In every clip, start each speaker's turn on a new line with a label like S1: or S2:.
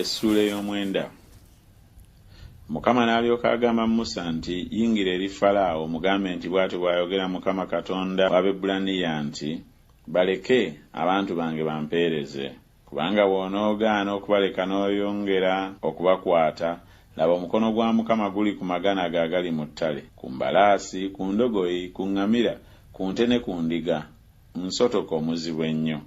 S1: Essuula ey'omwenda Mukama n'alyoka agamba Musa nti, Yingira eri Falaawo, omugambe nti, Bw'atyo bw'ayogera Mukama Katonda w'Abebbulaniya nti, Baleke, abantu bange bampeereze. Kubanga bw'onoogaana okubaleka n'oyongera okubakwata, laba omukono gwa Mukama guli ku magana ge agali mu ttale, ku mbalaasi, ku ndogoyi, ku ŋŋamira, ku nte ne ku ndiga, nsotoke omuzibu ennyo.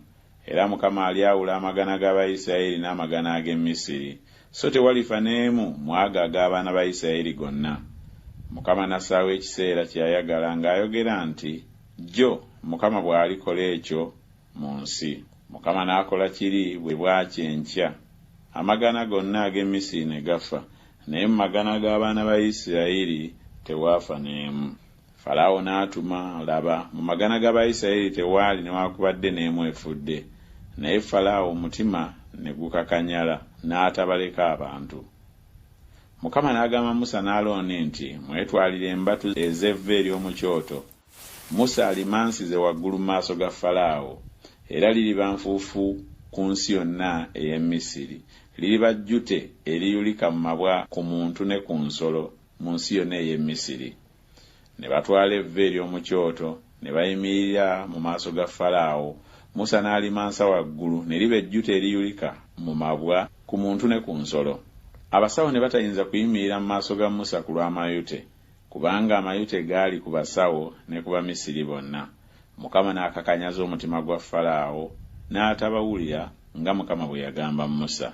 S1: Era Mukama alyawula amagana g'Abayisirayeli n'amagana ag'e Misiri, so tewalifa n'emu mu ago ag'abaana ba Yisirayeli gonna. Mukama n'assaawo ekiseera kye yayagala, ng'ayogera nti, Jjo Mukama bw'alikola ekyo mu nsi. Mukama n'akola kiri, bwe bwakya enkya amagana gonna ag'e Misiri ne gafa, naye mu magana g'abaana ba Yisirayeli tewaafa n'emu. Falaawo n'atuma, laba, mu magana g'Abayisirayeli tewaali newakubadde n'emu efudde, naye Falaawo omutima ne gukakanyala, n'atabaleka abantu. Mukama n'agamba Musa ne Alooni nti, Mwetwalire embatu ez'evvu ery'omu kyoto, Musa alimansize waggulu mu maaso ga Falaawo, era liriba nfuufu ku nsi yonna ey'e Misiri, liriba jjute eriyulika mu mabwa ku muntu ne ku nsolo mu nsi yonna ey'e Misiri. Ne batwala evvu ery'omu kyoto, ne bayimirira mu maaso ga Falaawo, Musa n'alimansa waggulu, ne liba ejjuta eriyulika mu mabwa ku muntu ne ku nsolo. Abasawo ne batayinza kuyimirira mu maaso ga Musa ku lw'amayute, kubanga amayute gaali ku basawo ne ku Bamisiri bonna. Mukama n'akakanyaza omutima gwa Falaawo, n'atabawulira, nga Mukama bwe yagamba Musa.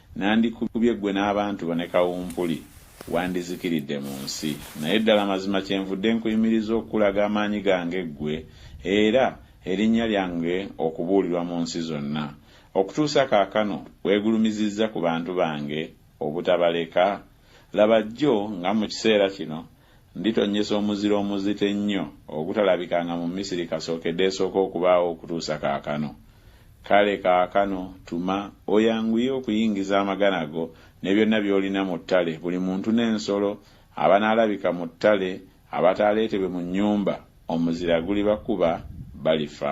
S1: Nandikubye ggwe n'abantu bo ne kawumpuli, wandizikiridde mu nsi. Naye ddala mazima kyenvudde nkuyimiriza okukulaga amaanyi gange ggwe, era erinnya lyange okubuulirwa mu nsi zonna. Okutuusa kaakano weegulumizizza ku bantu bange obutabaleka? Laba jjo nga mu kiseera kino Nditonnyesa omuzira omuzito ennyo ogutalabikanga mu Misiri kasookede esooke okubaawo okutuusa kaakano. Kale kaakano tuma, oyanguye okuyingiza amagana go ne byonna by'olina mu ttale, buli muntu n'ensolo, abanaalabika mu ttale abataaleetebwe mu nnyumba, omuzira gulibakuba, balifa.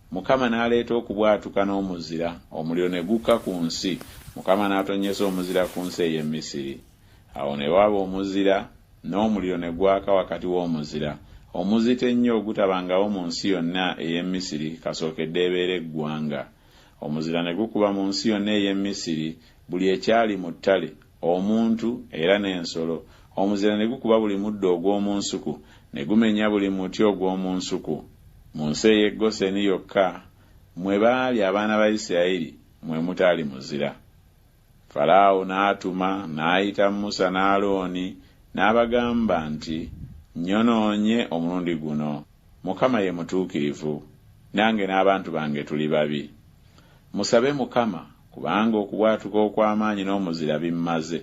S1: Mukama n'aleeta okubwatuka n'omuzira, omuliro ne gukka ku nsi, Mukama n'atonnyesa omuzira ku nsi ey'e Misiri. Awo ne waba omuzira, n'omuliro ne gwaka wakati w'omuzira, omuzito ennyo ogutabangawo mu nsi yonna ey'e Misiri kasookedde ebeere eggwanga. Omuzira ne gukuba mu nsi yonna ey'e Misiri buli ekyali mu ttale, omuntu era n'ensolo, omuzira ne gukuba buli muddo ogw'omu nsuku, ne gumenya buli muti ogw'omu nsuku. Mu nsi ey'e Goseni yokka mwe baali abaana ba Isirayiri mwe mutaali muzira. Falaawo n'atuma n'ayita Musa ne Alooni n'abagamba nti, Nnyonoonye omulundi guno. Mukama ye mutuukirivu, nange n'abantu bange tuli babi. Musabe Mukama Kubanga okubwatuka okw'amaanyi n'omuzira bimmaze,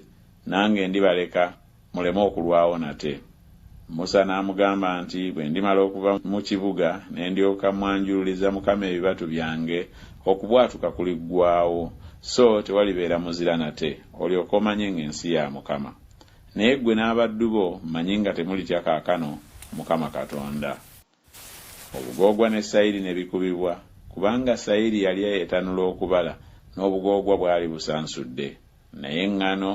S1: nange ndibaleka muleme okulwawo nate. Musa n'amugamba nti, Bwe ndimala okuva mu kibuga ne ndyoka mmwanjululiza Mukama ebibatu byange, okubwatuka kuliggwaawo, so tewalibeera muzira nate, olyoke omanye ng'ensi ya Mukama. Naye ggwe n'abaddu bo mmanyi nga temulitya kaakano Mukama Katonda. Obugoogwa ne sayiri ne bikubibwa, kubanga sayiri yali etanula okubala, n'obugoogwa bwali busansudde, naye eŋŋano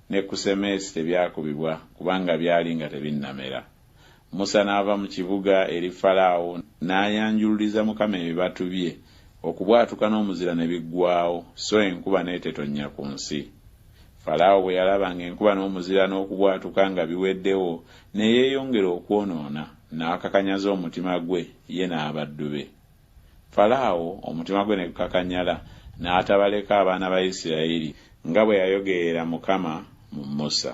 S1: ne kusemesi tebyakubibwa, kubanga byali nga tebinnamera. Musa n'ava mu kibuga eri Falaawo, n'ayanjululiza Mukama ebibatu bye, okubwatuka n'omuzira ne biggwaawo, so enkuba n'etetonnya ku nsi. Falaawo bwe yalaba ng'enkuba n'omuzira n'okubwatuka nga biweddewo, ne yeeyongera okwonoona. n'akakanyaza omutima gwe ye n'abaddu be. Falaawo omutima gwe ne gukakanyala, n'atabaleka abaana ba Isirayiri, nga bwe yayogerera Mukama mu Musa.